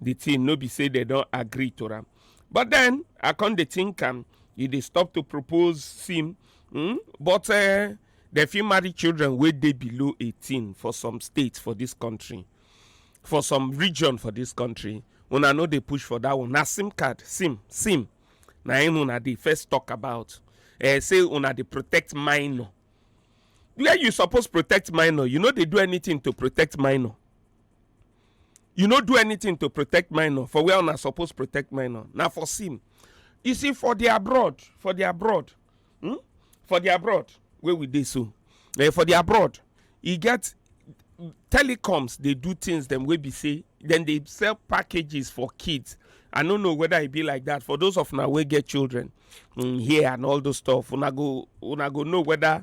the thing no be say they don agree to am but then i come dey think am e dey stop to propose sim mm? but uh, dem fit marry children wey dey below 18 for some states for this country for some region for this country una no dey push for that one na sim card sim sim na im una dey first talk about uh, say una dey protect minor where you suppose protect minor you no dey do anything to protect minor you no do anything to protect minor for where una suppose protect minor na for sin you see for the abroad for the abroad hmm? for the abroad wey we dey so eh, for the abroad e get telecoms dey do things dem wey be say dem dey sell packages for kids i no know whether e be like that for those of una wey get children um, here and all those stuff una go una go know whether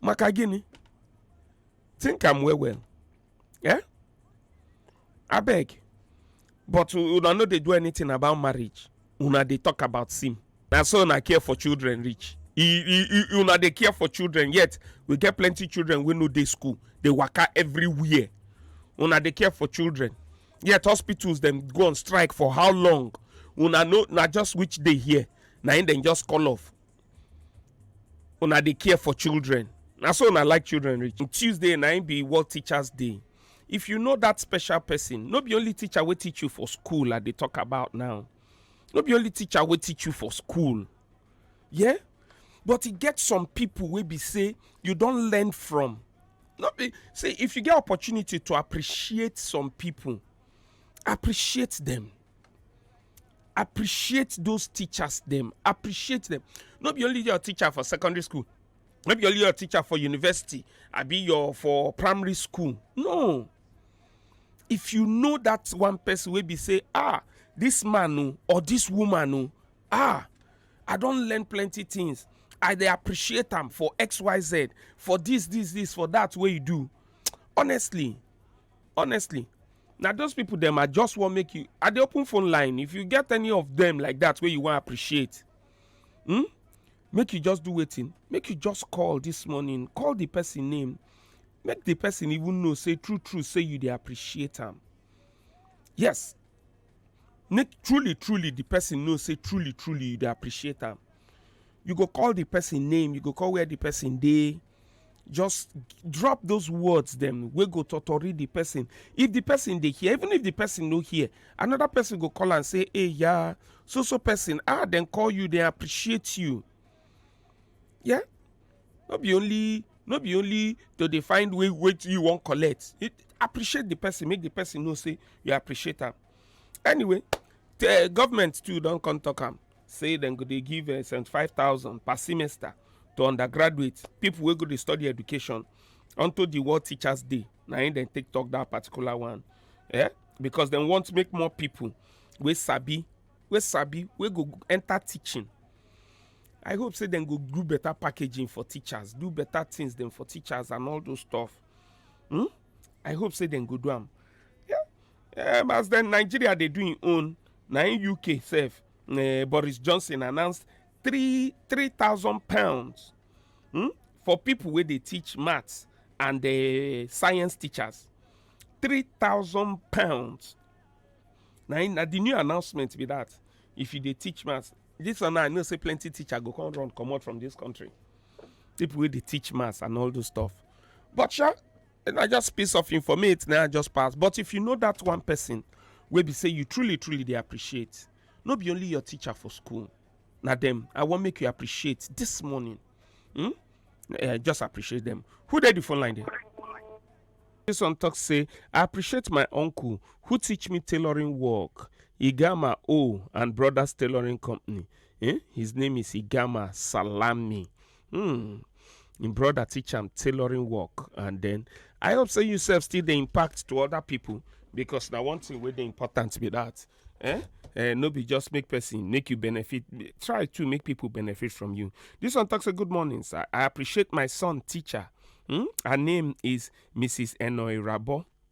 maka gịnị think am well well eh abeg but una no dey do anything about marriage una dey talk about sim na so una care for children reach una dey care for children yet we get plenty children wey no dey school dey waka everywhere una dey care for children yet hospitals dem go on strike for how long una know na just which day here na im dem just call off una dey care for children na so una like children reach tuesday na im be world teachers day if you know that special person no be only teacher wey teach you for school i dey talk about now no be only teacher wey teach you for school yeah but e get some people wey be say you don learn from no be say if you get opportunity to appreciate some people appreciate them appreciate those teachers them. appreciate them. Not be only your teacher for secondary school Not be only your teacher for university I be your for primary school no if you know that one person will be say ah this man oh, or this woman oh, ah i don't learn plenty things i they appreciate them for xyz for this this this for that way you do honestly honestly na those people dem i just wan make you i dey open phone line if you get any of them like that wey you wan appreciate hmm? make you just do wetin make you just call this morning call the person name make the person even know say true true say you dey appreciate am yes make truly truly the person know say truly truly you dey appreciate am you go call the person name you go call where the person dey just drop those words dem wey go totori the person if the person dey hear even if the person no hear another person go call am say hey yeah so so person ah dem call you dem appreciate you yeah no be only no be only to dey find way wey you wan collect it appreciate the person make the person know say you appreciate am anyway the government too don come talk am say dem go dey give uh, 75000 per semester to undergraduate people wey go dey study education unto the world teachers day na im dem take talk that particular one eh? because dem want make more people wey sabi wey sabi wey go enter teaching i hope say dem go do better packaging for teachers do better things dem for teachers and all those stuff hmm? i hope say dem go do am yeah? um, as then nigeria they do im own na in uk sef uh, boris johnson announced three three thousand pounds hmm, for people where they teach maths and the science teachers three thousand pounds Now, in na the new announcement be that if you they teach maths this one i know say plenty teacher go come run come out from this country people where they teach maths and all those stuff but sha na just piece of informate na i just pass but if you know that one person wey be say you truly truly dey appreciate no be only your teacher for school na dem i wan make you appreciate this morning hmm? uh, just appreciate them who dey the phone line there this one talk say i appreciate my uncle who teach me tailoring work igama o and brothers tailoring company eh? his name is igama salami Hmm. Im brother teach am tailoring work and then I hope say you sef still dey impact to other people because na one thing wey dey important be that. Eh? Eh, no be just make person make you benefit. Try to make people benefit from you. This one talks a good morning, sir. I appreciate my son teacher. Hmm? Her name is Mrs. Enoy Rabo.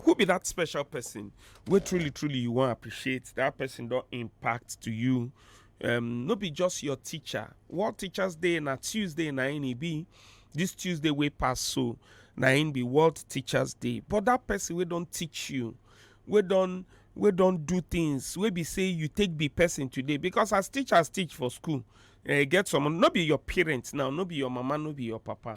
who be that special person wey truly truly you wan appreciate that person don impact to you um, no be just your teacher world teachers day na tuesday na im e be this tuesday wey pass so na im be world teachers day but that person wey don teach you wey don wey don do things wey be say you take be person today because as teachers teach for school eh, e get some no be your parents now no be your mama no be your papa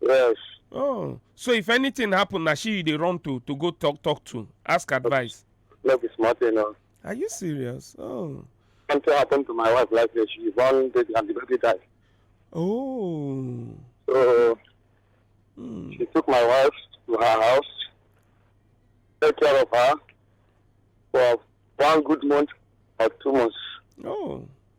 Yes. Oh, so if anything happen, na she you dey run to to go talk talk to, ask advice. No be small thing o. Are you serious? Oh, Something happen to my wife like this. She born baby and the baby die. oh, So Hmm. she took my wife to her house, take care of her for one good month or two months. oh.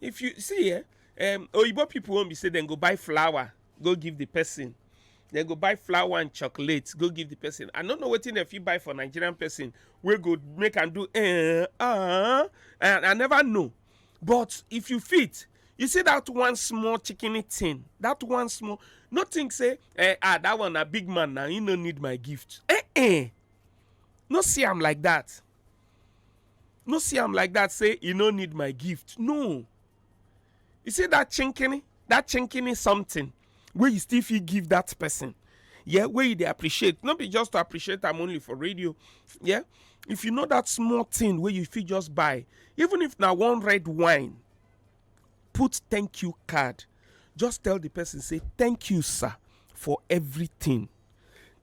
if you see eh um, oyibo people wan be say dem go buy flower go give the person dem go buy flower and chocolate go give the person i no know wetin dem fit buy for nigerian person wey go make am do eh ah and i never know but if you fit you see that one small chicken thing that one small no think say eh ah that one na big man na he no need my gift eh eh no see am like that no see am like that say e no need my gift no you see that chinkini that chinkini something wey you still fit give that person yeah wey you dey appreciate no be just to appreciate am only for radio yeah if you know that small thing wey you fit just buy even if na one red wine put thank you card just tell the person say thank you sir for everything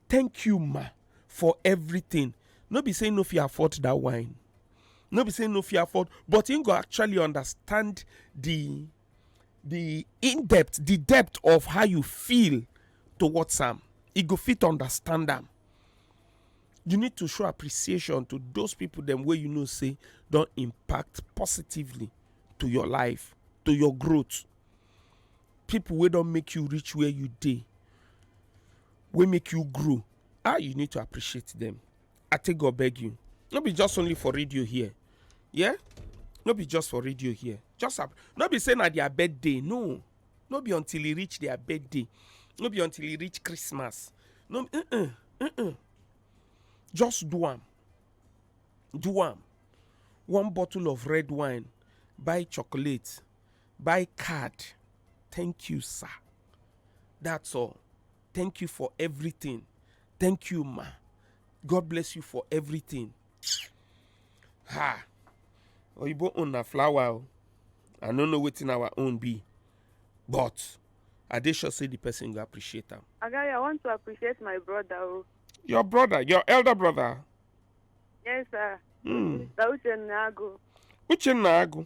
thank you ma for everything no be say no fit afford that wine no be say no fit afford but him go actually understand the the in depth the depth of how you feel towards am e go fit understand am you need to show appreciation to those people them where you know say don't impact positively to your life to your growth people wey don make you reach where you dey wey make you grow ah you need to appreciate them i take god beg you no be just only for radio here yeah no be just for radio here just ap- no be say na their birthday no no be until e reach their birthday no be until e reach christmas no be uh-uh, uh-uh. just do am do am one bottle of red wine buy chocolate buy card thank you sir that's all thank you for everything thank you ma god bless you for everything ha oyibo own na flower o i no know wetin our own be but i dey sure say the person go appreciate am Agari, I want to appreciate my brother. Oh. your brother your elder brother Yes, sir. hmm. Mr. Uchenna Agu. uchenna agu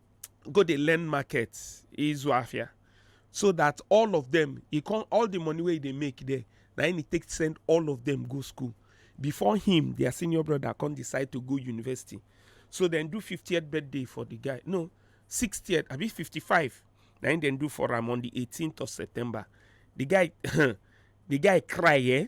go dey learn market izu afia so that all of them e come all the money wey e dey make there na him e take send all of them go school before him their senior brother come decide to go university so dem do 50th birthday for the guy no 60th abi 55 na him dem do for am on the 18th of september the guy the guy cry eh